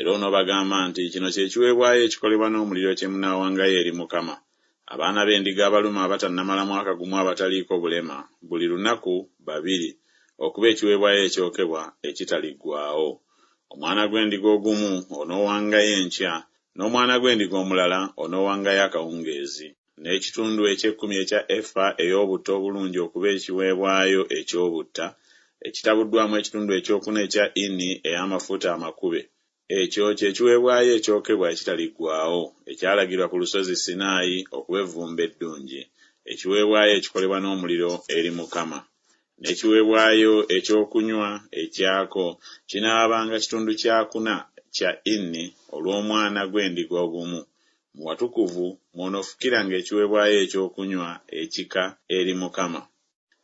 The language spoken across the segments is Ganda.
Era onoobagamba nti, Kino kye kiweebwayo ekikolebwa n'omuliro kye munaawangayo eri Mukama, Abaana b'endiga abalume abatannamala mwaka gumu abataliiko bulema, buli lunaku babiri, okuba ekiweebwayo ekyokebwa ekitaliggwaawo. Omwana gw'endiga ogumu onoowangayo enkya, n'omwana gw'endiga omulala onoowangayo akawungeezi. n'ekitundu eky'ekkumi ekya efa ey'obutta obulungi okuba ekiweebwayo eky'obutta, ekitabuddwamu ekitundu ekyokuna ekya ini ey'amafuta amakube. Ekyo kye kiweebwayo ekyokebwa ekitaliggwaawo, ekyalagirwa ku Lusozi Sinaayi okuba evvumbe eddungi, ekiweebwayo ekikolebwa n'omuliro eri Mukama. N'ekiweebwayo ekyokunywa ekyako kinaabanga kitundu kyakuna kya ini olw'omwana gw'endiga ogumu, Mu watukuvu mw'onoofukiranga ekiweebwayo ekyokunywa ekika eri Mukama.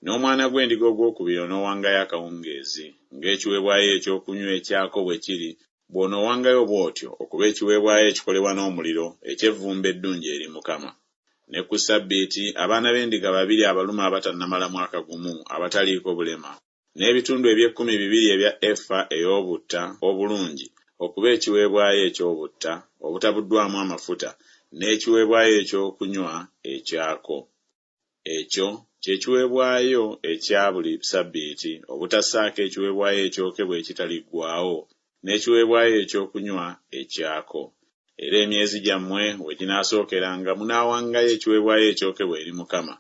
N'omwana gw'endiga ogwokubiri onoowangayo akawungeezi, ng'ekiweebwayo ekyokunywa ekyako bwe kiri, bw'onoowangayo bw'otyo okuba ekiweebwayo ekikolebwa n'omuliro eky'evvumbe eddungi eri Mukama. Ne ku Ssabbiiti, abaana b'endiga babiri abalume abatannamala mwaka gumu, abataliiko bulema, n'ebitundu eby'ekkumi bibiri ebya efa ey'obutta obulungi okuba ekiweebwayo eky'obutta obutabuddwamu amafuta, n'ekiweebwayo eky'okunywa ekyako. Ekyo kye kiweebwayo ekya buli ssabbiiti obutassaako ekiweebwayo ekyokebwa ekitaliggwaawo n'ekiweebwayo eky'okunywa ekyako. Era emyezi gyammwe we ginaasookeranga munaawangayo ekiweebwayo ekyokebwa eri Mukama,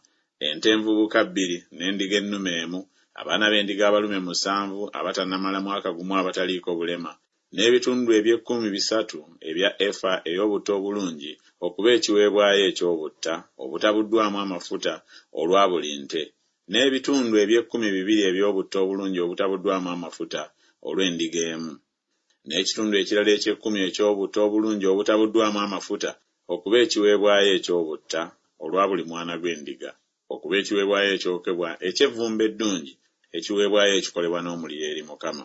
ente envubuka bbiri, n'endiga ennume emu, abaana b'endiga abalume musanvu abatannamala mwaka gumu abataliiko bulema, n'ebitundu eby'ekkumi bisatu ebya efa ey'obutta obulungi okuba ekiweebwayo eky'obutta obutabuddwamu amafuta olwa buli nte, n'ebitundu eby'ekkumi bibiri eby'obutto obulungi obutabuddwamu amafuta olw'endiga emu, n'ekitundu ekirala eky'ekkumi eky'obutto obulungi obutabuddwamu amafuta okuba ekiweebwayo eky'obutta olwa buli mwana gw'endiga, okuba ekiweebwayo ekyokebwa eky'evvumbe eddungi, ekiweebwayo ekikolebwa n'omuliro eri Mukama.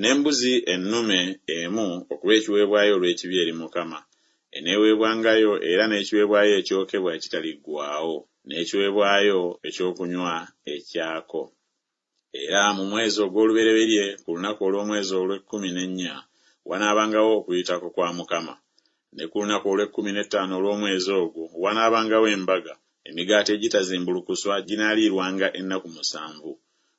N'embuzi ennume emu okuba ekiweebwayo olw'ekibi eri Mukama, eneeweebwangayo, era n'ekiweebwayo ekyokebwa ekitaliggwaawo, n'ekiweebwayo eky'okunywa ekyako. Era mu mwezi ogw'olubereberye ku lunaku olw'omwezi olw'ekkumi n'ennya, wanaabangawo Okuyitako kwa Mukama, ne ku lunaku olw'ekkumi n'ettaano olw'omwezi ogwo wanaabangawo embaga, emigaati egitazimbulukuswa ginaaliirwanga ennaku musanvu,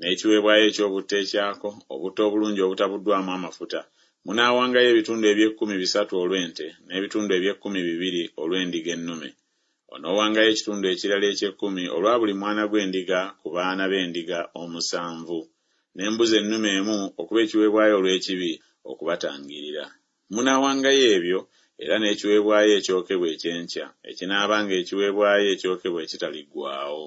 n'ekiweebwayo eky'obutta ekyako, obutta obulungi obutabuddwamu amafuta, munaawangayo ebitundu eby'ekkumi bisatu olw'ente, n'ebitundu eby'ekkumi bibiri olw'endiga ennume. Onoowangayo ekitundu ekirala eky'ekkumi olwa buli mwana gw'endiga ku baana b'endiga omusanvu, n'embuzi ennume emu okuba ekiweebwayo olw'ekibi okubatangiirira. Munaawangayo ebyo, era n'ekiweebwayo ekyokebwa eky'enkya, ekinaabanga ekiweebwayo ekyokebwa ekitaliggwaawo.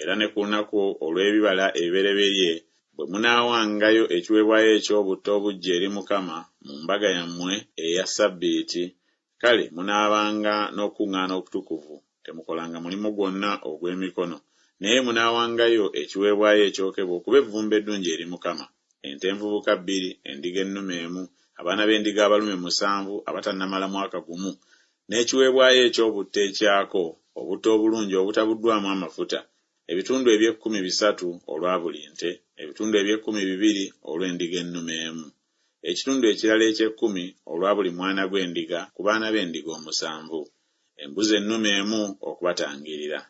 Era ne ku lunaku olw'ebibala ebibereberye bwe munaawangayo ekiweebwayo eky'obutta obuggya eri Mukama mu mbaga yammwe eya ssabbiiti, kale munaabanga n'okukuŋŋaana okutukuvu, temukolanga mulimu gwonna ogw'emikono, naye munaawangayo ekiweebwayo ekyokebwa okuba evvumbe eddungi eri Mukama, ente envubuka bbiri, endiga ennume emu, abaana b'endiga abalume musanvu abatannamala mwaka gumu, n'ekiweebwayo eky'obutto ekyako, obutto obulungi obutabuddwamu amafuta, ebitundu eby'ekkumi bisatu olwa buli nte, ebitundu eby'ekkumi bibiri olw'endiga ennume emu, ekitundu ekirala eky'ekkumi olwa buli mwana gw'endiga ku baana b'endiga omusanvu, embuzi ennume emu okubatangirira.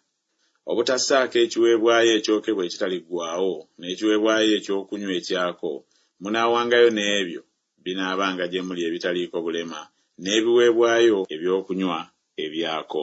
Obutassaako ekiweebwayo ekyokebwa ekitaliggwaawo n'ekiweebwayo eky'okunywa ekyako, munaawangayo n'ebyo binaabanga gye muli ebitaliiko bulema, n'ebiweebwayo eby'okunywa ebyako.